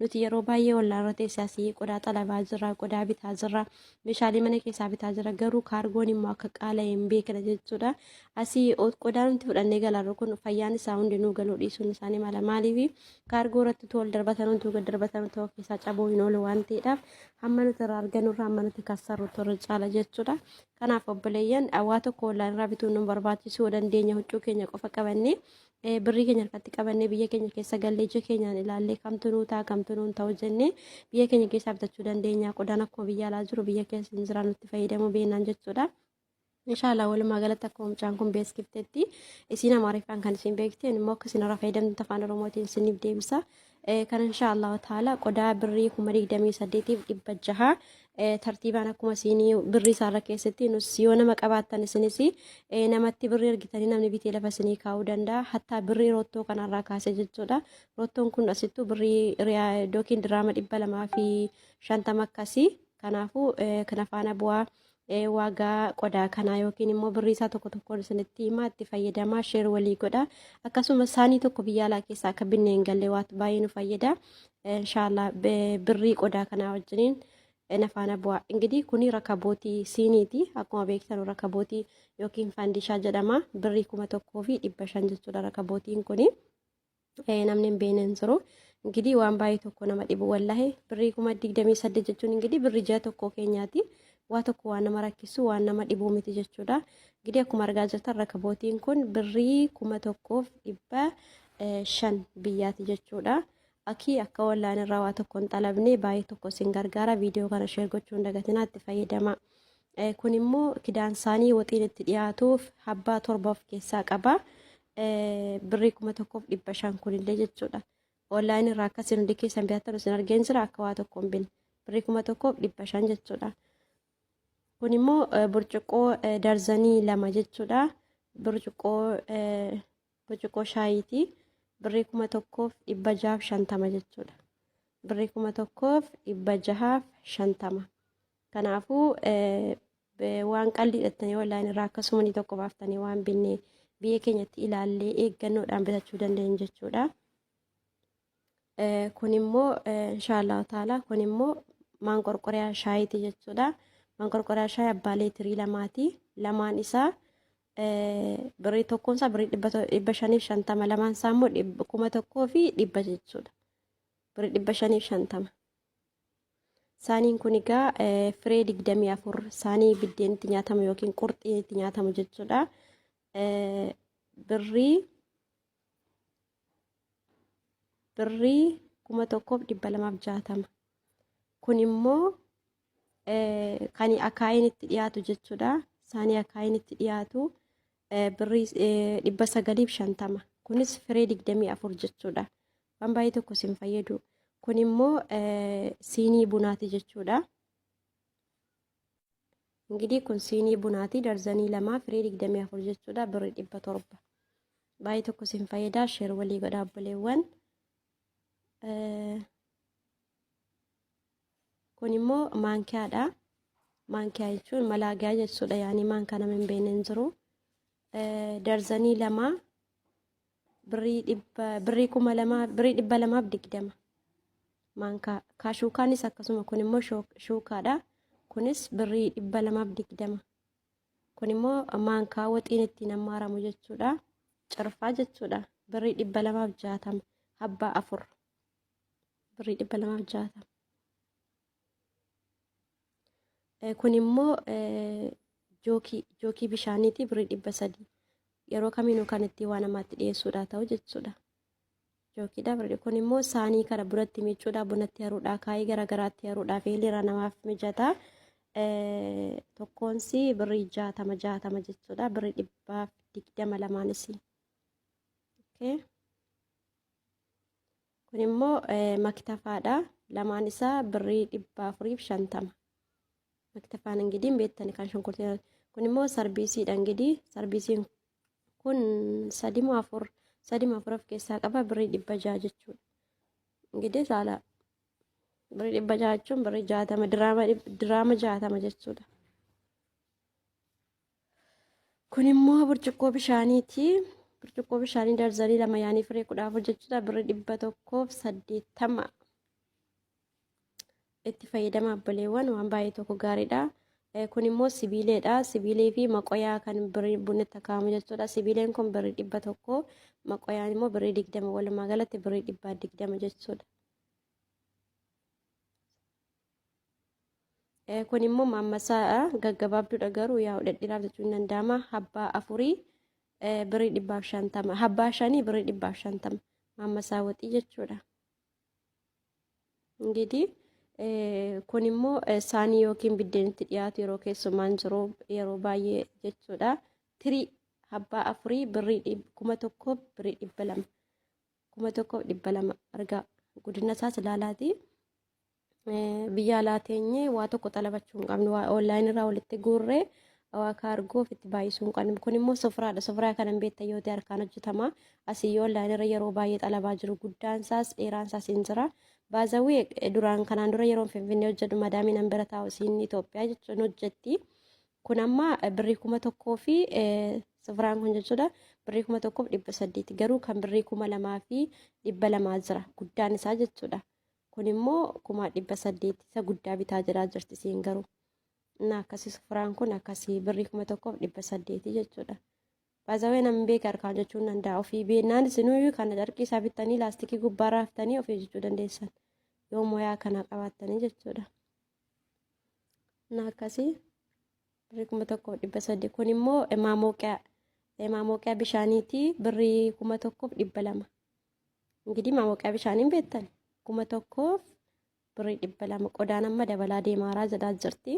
Nuti yeroo baay'ee ollaarra teessee asii qodaa xalabaa jirra, qodaa bitaa jirra, meeshaalee mana keessaa bitaa jirra. Garuu kaargoon immoo akka qaala'e hin beekna jechuudha. Asii o- qodaa nuti fudhannee galarru kun fayyaan isaa hundi nuu galuu dhiisuun isaanii mala. Maaliif kaargoo irratti utuu ol darbatan utuu gad darbatan utuu of keessaa cabuu hin oolu waan ta'eedhaaf hamma nuti irraa argannu irraa hamma nuti kassarru turre caala jechuudha. Kanaaf obboleeyyan waa tokko ollaan irraa bituun nu hin barbaachisu yoo dandeenye huccuu keenya qofa qabannee birrii keenya harkatti qabannee biyya keenya keessa gallee ija keenyaan ilaallee kamtu nuu ta'a kamtu nuun ta'u jennee biyya keenya keessaa bitachuu dandeenya qodaan akkuma biyya alaa jiru biyya keessa hin jiraan nutti fayyadamuu beeknaan jechuudha. Inshaallah walumaa galatti akkuma mucaan kun beeksiftetti isiin amaariffaan kan isiin beekte immoo akka isin irraa fayyadamtu afaan oromootiin isiniif deebisa. kan insha Allah ta'ala qodaa birrii kuma digdamii saddeetiif dhibba jaha tartiibaan akkuma siinii birrii isaarra keessatti nus yoo nama qabaattan isinis namatti birrii ergitanii namni bitee lafa isinii kaa'uu danda'a hattaa birrii rottoo kanarraa kaasee jechuudha rottoon kun asittuu birrii yookiin diraama dhibba lamaa fi shantama akkasii kanaafuu kana faana bu'aa waagaa qodaa kanaa yookiin immoo birrii isaa tokko tokkoon isinitti himaa itti fayyadamaa sheer walii godha akkasuma saanii tokko biyya alaa keessaa akka binnee hin galle waatu baay'ee nu fayyada inshaallah birrii qodaa kanaa wajjiniin nafaana bu'aa ingidihi kuni rakabootii siiniiti akkuma beektan rakabootii yookiin faandishaa jedhama birrii kuma tokkoo fi dhibba shan jechuudha rakabootiin kuni. namni hin beekne hin jiru. Ingidihi waan baay'ee tokko nama dhibu wallahi birrii kuma digdamii saddeet jechuun ingidihi birrii ji'a tokko keenyaati. Waa tokko waan nama rakkisu waan nama dhibuu miti jechuudha. Ingidihi akkuma argaa jirtan rakabootiin kun birrii kuma tokkoof dhibba shan biyyaati jechuudha. Akii akka wallaan irraa waa tokko hin xalabne baay'ee tokko isin gargaara viidiyoo kana sheer gochuu hin dagatinaa itti fayyadama. Kun immoo kidaan isaanii waxiin itti dhiyaatuuf habbaa torba of keessaa qaba. birrii kuma tokkoof dhibba shan kunillee jechuudha. Online irraa akka isin hundi keessan bitatan isin argeen jira akka waa tokko hin binne. Birrii kuma tokkoof dhibba shan jechuudha. Kun immoo burcuqqoo darzanii lama jechuudha. Burcuqqoo burcuqqoo shaayiiti. Birrii kuma tokkoof dhibba jahaaf shantama jechuudha. Birrii kuma tokkoof dhibba jahaaf shantama. Kanaafuu waan qalbii dhattanii online irraa akkasumanii tokko baaftanii waan binne biyya keenyatti ilaallee eeggannoodhaan bitachuu dandeenyu jechuudha. Kun immoo inshaallahu ta'ala kun immoo maanqorqoriyaa shaayiiti jechuudha. Maanqorqoriyaa shaayii abbaa leetirii lamaati. Lamaan isaa birrii tokkoon isaa birrii dhibba shaniif shantama lamaan isaa immoo kuma tokkoo fi dhibba jechuudha. Birrii dhibba shaniif shantama. Saaniin kun egaa firee digdamii afur saanii biddeen itti nyaatamu yookiin qurxiin itti nyaatamu jechuudha. Birrii birrii kuma tokkoof dhibba lamaaf jaatama. Kun immoo kan akaayiin itti dhiyaatu jechuudha. Saanii akaayiin itti dhiyaatu birrii dhibba sagaliif shantama. Kunis firee digdamii afur jechuudha. waan baay'ee tokko sin fayyadu kun immoo siinii bunaati jechuudha. Ingidiin kun siinii bunaati darzanii lamaa firii digdamii afur jechuudha birri dhibba torba. Baay'ee tokko sin fayyada sheer walii godhaa obboleewwan. Kun immoo maankiyaadha. Maankiyaa jechuun malaagaa jechuudha yaani maankaa nama hin beekne hin jiru. Darzanii lamaa birrii dhibba birrii kuma lamaa birrii dhibba lamaaf digdama maankaa kaashuukaanis akkasuma kun immoo shoo- shuukaadha kunis birrii dhibba lamaaf digdama kun immoo maankaa waxiin ittiin ammaaramu jechuudha cirfaa jechuudha birrii dhibba lamaaf jaatama habbaa afur birrii dhibba lamaaf jaatama kun immoo jookii jookii bishaaniitii birrii dhibba sadii yeroo kamiinuu kan ittiin waa namaatti dhiyeessuudhaa ta'u jechuudha. Jookiidha birrii kun immoo saanii kana bunatti miicuudhaa bunatti haruudhaa kaayee garaagaraatti haruudhaa fi hiliira namaaf mijataa tokkoonsi birrii jaatama jaatama jechuudha birrii dhibbaaf digdama lamaanis. Okay. Kun immoo maktafaadha. Lamaan isaa birrii dhibba afuriif shantama. Maktafaan ingidiin beektani kan shunkurtii. Kun immoo sarbiisiidha ingidii. Sarbiisiin kun sadimoo afur sadima afur of keessaa qaba birrii dhibba jaha jechuudha. Ingidii saala birrii dhibba jaha jechuun birrii jaatama diraama jaatama jechuudha. Kun immoo burcuqqoo bishaaniiti. Burcuqqoo bishaanii darzanii lama yaanii firee kudha afur jechuudha birri dhibba tokkoof saddeettama. Itti fayyadama abboleewwan waan baay'ee tokko gaariidha. Kun immoo sibiileedha. Sibiilee fi maqoyaa kan birrii bunni takaamu jechuudha. Sibiileen kun birrii dhibba tokko maqoyaan immoo birrii digdama walumaa galatti birrii dhibba digdama jechuudha. kun immoo maammasaa gaggabaabduudha garuu yaa dhedhiiraaf jechuun danda'ama habbaa afurii birii dhibbaaf shantama habbaa shanii birii dhibbaaf shantama maammasaa waxii jechuudha. Ingiidii kun immoo saanii yookiin biddeenitti dhiyaatu yeroo keessumaan jiru yeroo baay'ee jechuudha. Tirii habbaa afurii birii kuma tokkoof birii dhibba lama kuma tokkoof dhibba lama argaa guddina isaas ilaalaatii. Biyya alaa teenyee waa tokko xalabachuu hin qabnu. Waa online irraa walitti guurree waa kaargoo ofitti baay'isuu hin qabnu. Kun immoo sofraadha. Sofraa kana hin beektan yoo ta'e harkaan hojjetama. Asii online irra yeroo baay'ee xalabaa jiru. Guddaan isaas dheeraan isaas hin jira. Baazawii duraan kanaan dura yeroon finfinnee hojjedhu madaamiin an bira taa'u isiin Itoophiyaa jechuun hojjetti. Kun amma birrii kuma tokkoo fi sofraan kun jechuudha. Birrii kuma tokkoof dhibba saddeeti. Garuu kan birrii kuma lamaa fi dhibba lamaa jira. Guddaan isaa jechuudha. kun immoo kumaa dhibba saddeetti isa guddaa bitaa jiraa jirti isiin garuu na akkasii sufuraan kun akkasii birrii kuma tokkoof dhibba saddeetii jechuudha. Baazawee namni beeka harkaan jechuun danda'a ofii beennaan isinuu kana carqii isaa bittanii laastikii gubbaa raaftanii ofii jechuu dandeessan yoo moyaa kana qabaattanii jechuudha. Na akkasii birrii kuma tokkoof dhibba saddeet kun immoo maamoqiyaa maamoqiyaa bishaaniitii birrii kuma tokkoof dhibba lama እንግዲህ ማሞቂያ bishaaniin beektan kuma tokkoof birrii dhibba lama qodaan amma dabalaa deemaaraa jedhaa jirti.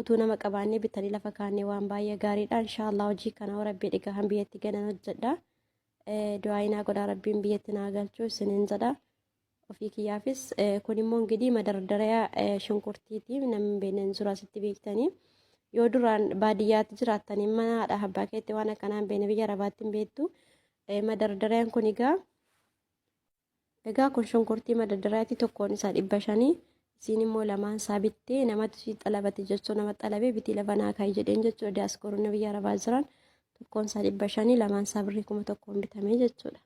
Utuu nama qabaannee bitanii lafa kaannee waan baay'ee gaariidha. Inshaallah hojii kana hoo rabbii dhigaa kan biyyatti ganan hojjedha. Du'aayinaa godhaa rabbiin biyyatti naa galchuu isiniin jedha. Ofii kiyyaafis kun immoo ingidihi madardarayaa shunkurtiiti namni beekneen suuraa sitti beektanii. Yoo duraan baadiyyaatti jiraattan mana haadha abbaa keetti waan akkanaa hin beekne biyya arabaatti hin beektu. Eh, Madardariyaan kun egaa egaa kun shunkurtii madardaraati tokkoon isaa dhibba shanii isiin immoo lamaan isaa bittee namatu sii xalabate jechuu nama xalabee bitii labanaa kaa'e jedheen jechuudha diyaaskooronni biyya arabaa jiran tokkoon isaa dhibba shanii lamaan isaa birrii kuma tokkoon bitamee jechuudha.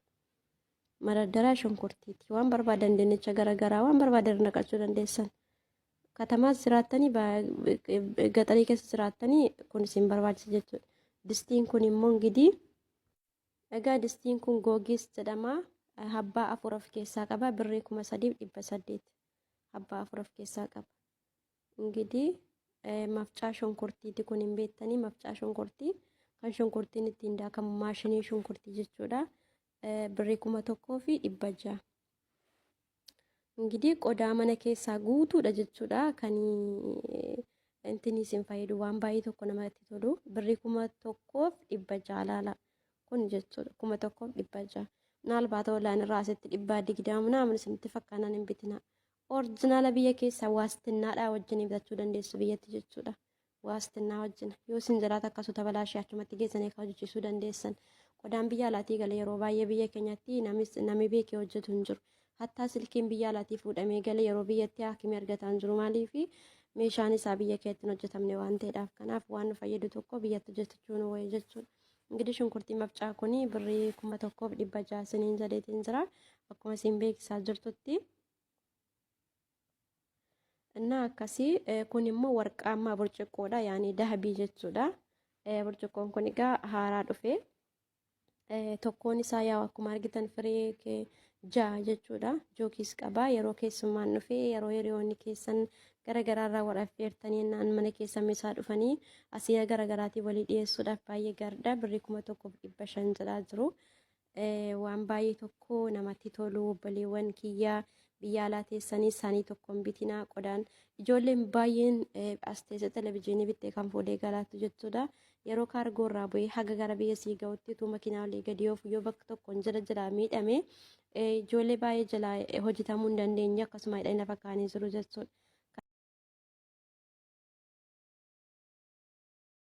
Madardaraa shunkurtiiti waan barbaadan dinnicha garaagaraa waan barbaadan irra naqachuu dandeessan. Katamaas jiraattanii ba- gaxarii keessa jiraattanii kun isin barbaachisa jechuudha. Distiin kun immoo gidii Egaa distiin kun Googiis jedhama. Habbaa afur of keessaa qaba. Birrii kuma sadiif dhibba saddeet habbaa afur of keessaa qaba. Ingidii mafcaa shunkurtiiti kun hin beektanii mafcaa shunkurtii kan shunkurtiin ittiin daakamu maashinii shunkurtii jechuudha. Birrii kuma tokkoo fi dhibba ja'a. Ingidihi qodaa mana keessaa guutuudha jechuudha. Kan intinii isin fayyadu waan baay'ee tokko namatti tolu. Birrii kuma tokkoof dhibba ja'a laala. Kun jechuudha kuma tokkoof dhibba ja'a. Maalbaata olaan irraa asitti dhibbaa digdama naamun isinitti fakkaanaan hin bitina. Orjinaala biyya keessaa waastinnaadhaa wajjin bitachuu dandeessu biyyatti jechuudha. waastinnaa wajjin yoo isin jiraata akka suuta balaa ishee achumatti geessanii akka hojjechiisuu dandeessan qodaan biyya alaatii gale yeroo baay'ee biyya keenyatti namni beekee hojjetu hin jiru hattaa silkiin biyya alaatii fuudhamee gale yeroo biyyatti haakimii argataa hin jiru maaliif meeshaan isaa biyya keetti hin hojjetamne waan ta'eedhaaf kanaaf waan nu fayyadu tokko biyyatti hojjetachuu nu wayya jechuudha. Ingidish shunkurtii mafcaa kun birrii kuma tokkoof dhibba ja'a isiniin jedheetiin jira akkuma isin beeksisaa jirtutti. እና akkasii kun immoo warqaammaa burcuqqoodha yaani dahabii jechuudha burcuqqoon kun egaa haaraa dhufe tokkoon isaa yaa akkuma argitan firee kee ja'a jechuudha jookiis qaba yeroo keessummaan dhufe yeroo hiriyoonni keessan garagaraarraa wal affeertanii naan mana keessan isaa dhufanii asiyaa garaagaraatii walii dhiyeessuudhaaf baay'ee gaariidha birrii kuma tokkoof dhibba shan jedhaa jiru waan baay'ee tokko namatti tolu obboleewwan kiyya biyya alaa teessanii isaanii tokkoon bitinaa qodaan ijoolleen baay'een as teessee televizyiinii bittee kan fuudhee galaattu jechuudha. Yeroo kaargoo irraa bu'ee haga gara biyya sii ga'utti utuu makiinaa olii gadi oofu yoo bakka tokkoon jala jala miidhame ijoollee baay'ee jala hojjetamuu hin dandeenye akkasuma hidhanii lafa kaanii jiru jechuudha.